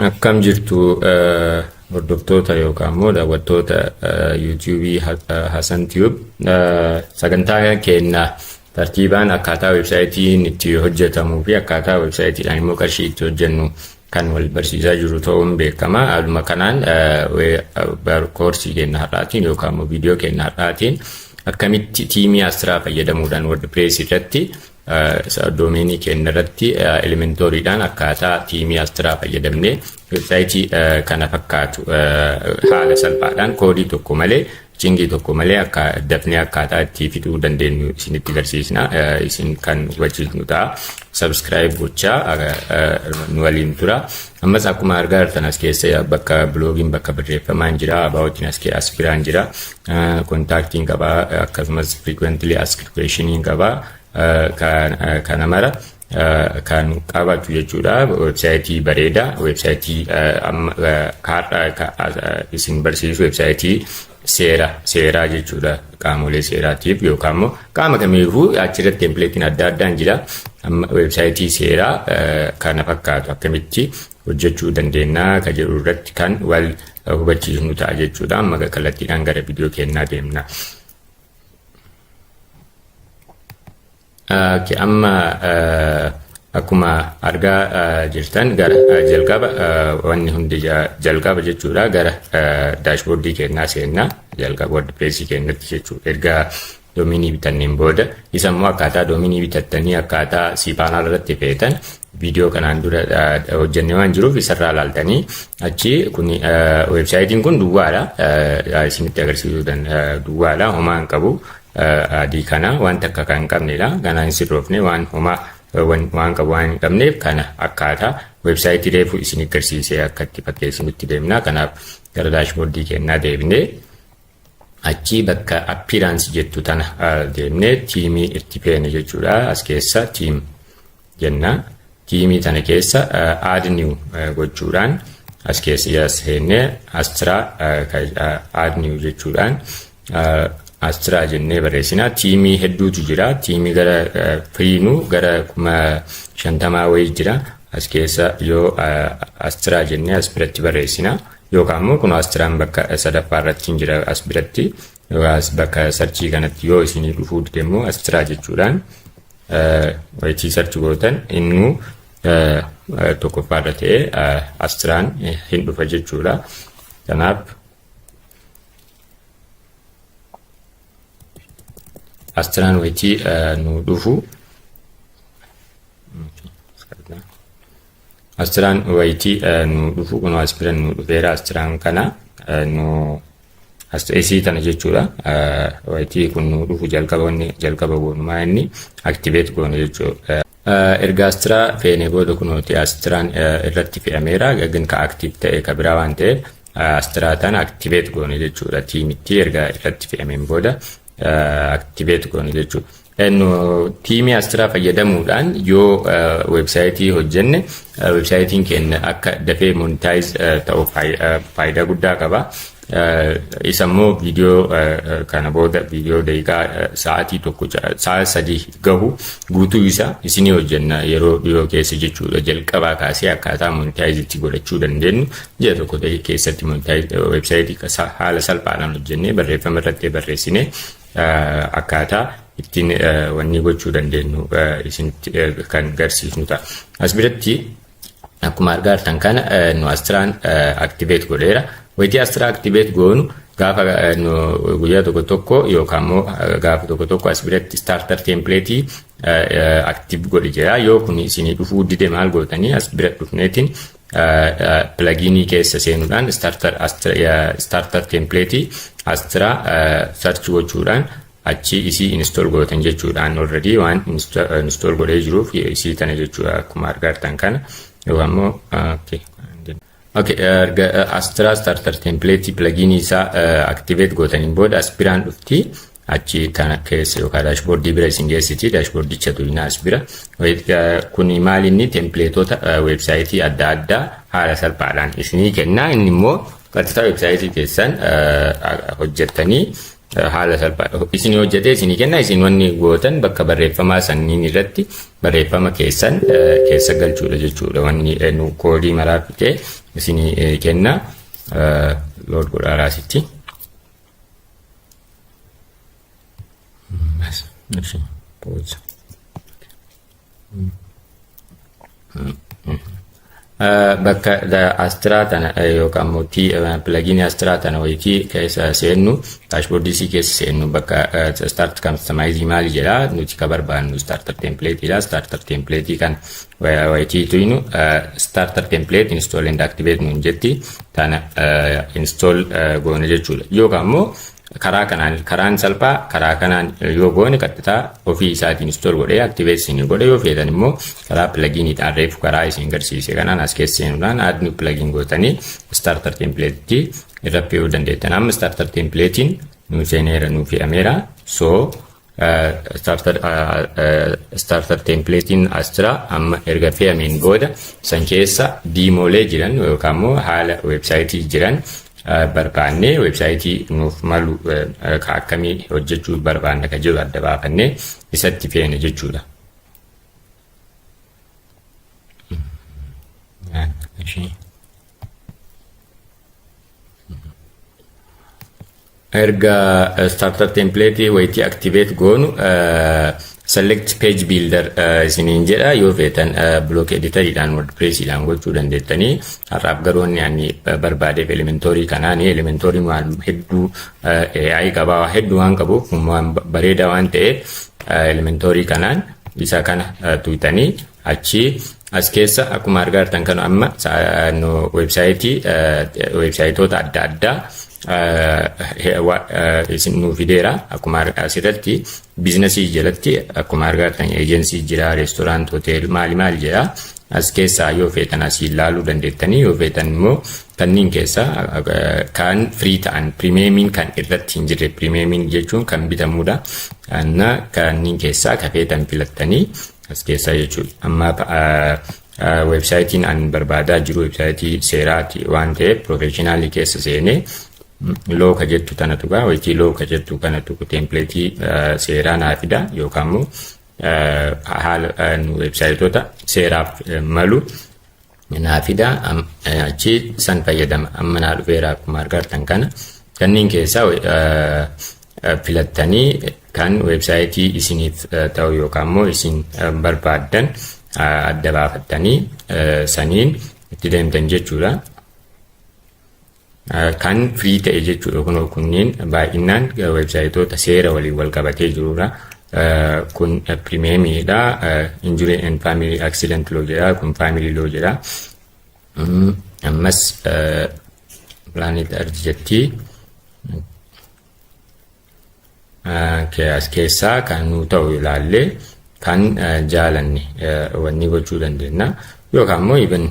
Akkam jirtu eh, hordoftoota yookaan immoo daawwattoota eh, YouTube Ha- eh, Hasan Tube Eh, sagantaa keenya tartiibaan akkaataa websaayitiin itti hojjetamuu fi akkaataa websaayitiidhaan immoo qarshii itti hojjennu kan wal barsiisaa jiru ta'uun beekama. Haaluma kanaan koorsii keenya har'aatiin yookaan immoo viidiyoo keenya har'aatiin akkamitti tiimii Asraa fayyadamuudhaan WordPress irratti doomeenii keenya irratti elementooriidhaan akkaataa tiimii Asraa fayyadamnee websaayitii kana fakkaatu haala salphaadhaan koodii tokko malee Chingii tokko malee akka dafnee akkaataa itti fixuu dandeenyu isinitti garsiisna. Isin kan hubachiisnu ta'a. Subscribe gochaa nu waliin tura. Ammas akkuma argaa jirtan as keessa bakka biloogiin bakka barreeffamaan jira. Abaawotiin as kee as biraan jira. Kontaaktiin qaba akkasumas frequently asked questioniin qaba. Kana mara kan qabatu jechuudha. Weebsaayitii bareeda. Weebsaayitii kaadhaa isin barsiisu weebsaayitii seera seeraa jechuudha. Qaamolee seeraatiif yookaan immoo qaama kamiifuu achirratti tempileetiin adda addaan jira. Amma weebsaayitii seeraa kana fakkaatu akkamitti hojjechuu dandeenya kan jedhu irratti kan wal hubachiisnu ta'a jechuudha. Amma kallattiidhaan gara viidiyoo keenyaa deemna. Ok amma akkuma argaa jirtan gara jalqaba wanni hundi jalqaba jechuudha gara daashboordii kennaa seenna jalqaba wordpressii kennatti jechuudha erga doominii bitanneen booda isa immoo akkaataa doominii bitattanii akkaataa siipaanaa irratti feetan viidiyoo kanaan dura hojjenne waan jiruuf isarraa laaltanii achi kun weebsaayitiin kun duwwaadha isinitti agarsiisuu duwwaadha homaa hin qabu adii kana waan takka kan hin qabnedha. Ganaa hin sirroofne waan homaa waan qabu waan hin qabneef kana akkaataa weebsaayitii reefu isin agarsiisee akka itti fakkeessinutti deemna. Kanaaf gara daashboordii kennaa deebinee achii bakka appearance jettu tana deemnee tiimii itti feene jechuudha. As keessa tiim jenna. Tiimii tana keessa add new gochuudhaan as keessa as seennee Astra add new jechuudhaan Astra jennee barreessina. Tiimii hedduutu jira. Tiimii gara firiinu gara kuma shantamaa wayii jira. As keessa yoo Astra jennee as biratti barreessina. Yookaan immoo kun Astraan bakka sadaffaa irratti hin jira as biratti. As bakka sarchii kanatti yoo isinii dhufuu dide immoo Astra jechuudhaan Wayitii sarchi gootan innuu tokkoffaadha ta'e astiraan hin dhufa jechuudha. Kanaaf astiraan wayitii nu dhufu astiraan wayitii nu dhufu kun astiraan nu dhufeera astiraan kana nu Asxeesii tana jechuudha. Wayitii kun nu dhufu jalqaba inni jalqaba goonumaa inni activate goona jechuudha. Erga astiraa feenee booda kunooti astiraan irratti fe'ameera gagin ka active ta'e ka biraa waan ta'eef astiraa tana activate goona jechuudha. Tiimitti erga irratti fe'ameen booda activate goona jechuudha. Tiimii Astiraa fayyadamuudhaan yoo weebsaayitii hojjenne weebsaayitiin keenya akka dafee monitaayiz ta'u faayidaa guddaa qaba. Isa immoo viidiyoo kana booda viidiyoo daqiiqaa sa'aatii tokko sa'a sadii gahu guutuu isa isinii hojjenna yeroo dhiyoo keessa jechuudha jalqabaa kaasee akkaataa monitaayiz itti godhachuu dandeenyu ji'a tokko ta'e keessatti monitaayiz weebsaayitii haala salphaadhaan hojjennee barreeffama irratti barreessinee akkaataa ittiin wanni gochuu dandeenyu isinitti kan garsiisnu ta'a. As biratti akkuma argaa jirtan kana nu astiraan aktiveet godheera. Wayitii astiraa aktiveet goonu gaafa guyyaa tokko tokko yookaan immoo gaafa tokko tokko as biratti starter template aktiiv godhi jira. Yoo kun isinii dhufuu dide maal gootanii as bira dhufneetiin pilagiinii keessa seenuudhaan starter template astra search gochuudhaan achi isii install gootan jechuudhaan already waan install godhee jiruuf isii tana jechuudha akkuma argartan kana yoo ammoo Okay, erga Astra starter template plugin isaa activate gootaniin booda aspiraan dhufti. achi tana keessa yookaan daashboordii bira isin geessiti daashboordicha tuyna as bira kun maal inni tempileetota weebsaayitii adda addaa haala salphaadhaan isinii kenna inni immoo qaxxitaa weebsaayitii keessan hojjettanii haala salphaa isin hojjetee isinii kenna isin wanni gootan bakka barreeffamaa sanniin irratti barreeffama keessan keessa galchuudha jechuudha wanni nu koodii maraa fixee isinii kenna lood godhaaraa sitti. እሺ ፖዝ bakka astiraa tana yookaan immoo pilagiinii astiraa tana wayiti keessa seennu daashboordii isii keessa seennu bakka start kastamaayizii maali jedha nuti ka barbaannu starter template dha starter template kan wayitii tuynu starter template install and activate nuun jetti kana install goona jechuudha. Yookaan immoo karaa kanaan karaan salphaa karaa kanaan yoo goone qaxxitaa ofii isaatiin install godhee activate isin godha yoo feetan immoo karaa pluginiidhaan reefu karaa isin garsiise kanaan as keessa seenuudhaan add new plugin gootanii starter templatetti irra fe'uu dandeettan. Amma starter templatein nuu seeneera nuu fe'ameera. So starter starter templatein as jira amma erga fe'ameen booda san keessa diimoolee jiran yookaan immoo haala weebsaayitii jiran barbaannee weebsaayitii nuuf malu ka akkamii hojjechuu barbaanna ka jiru adda baafannee isatti feene jechuudha. erga starter template wayitti activate goonu select page builder isiniin jedha yoo feetan block editoridhaan wordpressiidhaan gochuu dandeettanii har'aaf garuu inni ani barbaadeef elementoorii kanaani elementooriin waan hedduu AI qabaa waa hedduu waan qabuuf waan bareedaa waan ta'eef elementoorii kanaan isa kana tuutanii Achii as keessa akkuma argaa jirtan kan amma weebsaayitii weebsaayitoota adda addaa isin nuu fideera akkuma asirratti biizinasii jalatti akkuma argaa jirtan eejensii jira reestoraant hotel maali maal jira as keessaa yoo feetan asii ilaaluu dandeettanii yoo feetan immoo kanneen keessaa kan firii ta'an pirimeemiin kan irratti hin jirre pirimeemiin jechuun kan bitamudha. Kanneen keessaa kan feetan filattanii As keessaa jechuudha. Amma weebsaayitiin an barbaadaa jiru weebsaayitii seeraati waan ta'eef piroofeeshinaalii keessa seenee looka jettu tana tuqaa wayitii looka jettu kana tuqu teempileetii seeraa naa fida yookaan immoo haala weebsaayitoota seeraaf malu naa fidaa am- eh, achi san fayyadama amma naa dhufeera akkuma argartan kana kanneen keessaa we- eh, eh, filattanii kan weebsaayitii isiniif eh, ta'u yookaan immoo isin eh, barbaaddan eh, adda baafattanii eh, saniin itti deemtan jechuudha. Kan firii ta'e jechuudha kunoo kunniin baay'inaan websaayitoota seera waliin wal qabatee jirudha. Kun pirimeemiidha. Injury and family accident law jedha. Kun family law jedha. Ammas planet earth jetti. as keessaa kan nuu ta'u ilaallee kan jaalanne wanni gochuu dandeenya yookaan immoo even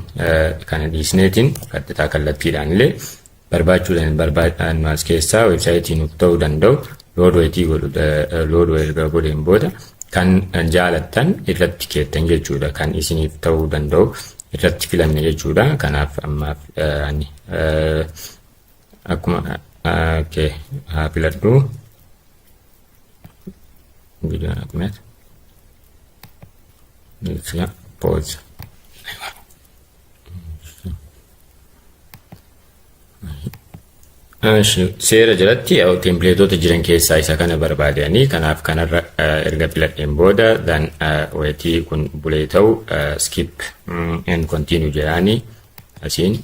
kana dhiisneetiin qaxxitaa kallattiidhaan illee barbaachuu barbaadaan as keessaa weebsaayitii nuuf ta'uu danda'u loodweetii godhu loodwee erga godheen booda kan jaalattan irratti keettan jechuudha kan isiniif ta'uu danda'u irratti filanne jechuudha kanaaf ammaaf ani akkuma kee haa filadhu viidiyoon akkuma jecha poozi seera jalatti yaa'u tempileetoota jiran keessaa isa kana barbaadanii kanaaf kanarra erga filadheen booda dan weetii kun bulee ta'u skip and continue jedhaanii asiin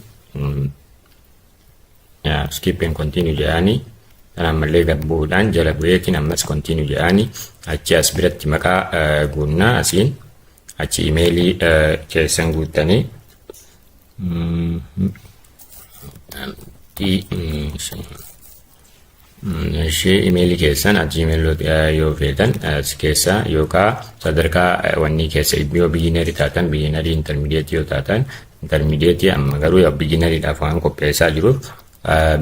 skip and continue jedhaani kan ammallee gad bu'uudhaan jala bu'eetiin ammas continue jedhaani achi as biratti maqaa guunnaa asiin achi imeelii keessan guuttanii Ishee imeelii keessan at gmail yoo feetan as keessa yookaan sadarkaa wannii keessa yoo biyyinarii taatan biyyinarii intermidiyeetii yoo taatan intermidiyeetii amma garuu yaa biyyinariidhaaf waan qopheessaa jiruuf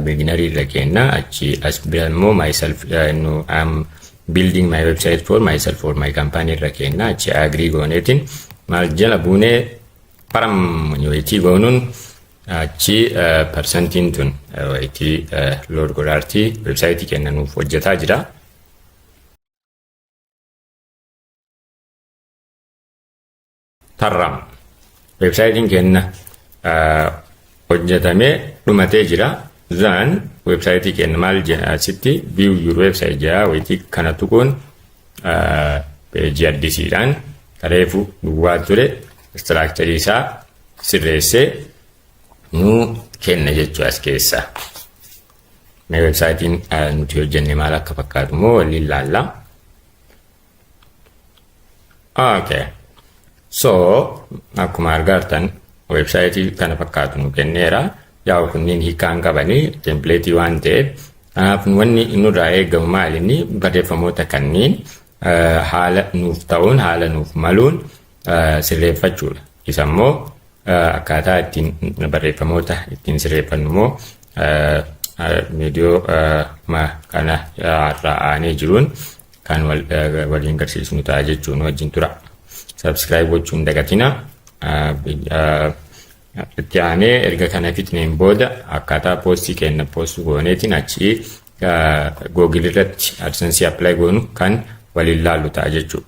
biyyinarii irra keenna achi as bira immoo myself nu am building my website for myself for my company irra keenna achi agrii gooneetiin maal jala buunee param yoo itti goonuun Achi parsantiin tun itti load godhaarti websaayitii keenya nuuf hojjetaa jira. Tarraam websaayitiin keenya hojjetamee dhumatee jira. Zaan websaayitii keenya maal jedha asitti view your website jedha wayitii kana tuquun peejii addisiidhaan kareefu duwwaa ture istiraakcharii isaa sirreessee nuu kenna jechuu as keessa. Mee websaayitiin nuti hojjenne maal akka fakkaatu immoo waliin laalla. Okay. So akkuma argaartan websaayitii kana fakkaatu nu kenneera. Yaa'u kunniin hiikaan qabanii tempileetii waan ta'eef kanaaf wanni nurraa eegamu maalinni barreeffamoota kanniin haala nuuf ta'uun haala nuuf maluun sirreeffachuudha. Isa immoo akkaataa ittiin barreeffamoota ittiin sirreeffannu immoo viidiyoo ma kana irraa aanee jiruun kan waliin garsiisnu ta'a jechuun wajjin tura. Subscribe gochuun dagatina. Itti aanee erga kana fixneen booda akkaataa poostii kenna poostuu gooneetiin achi googilirratti adsense apply goonu kan waliin laallu ta'a jechuudha.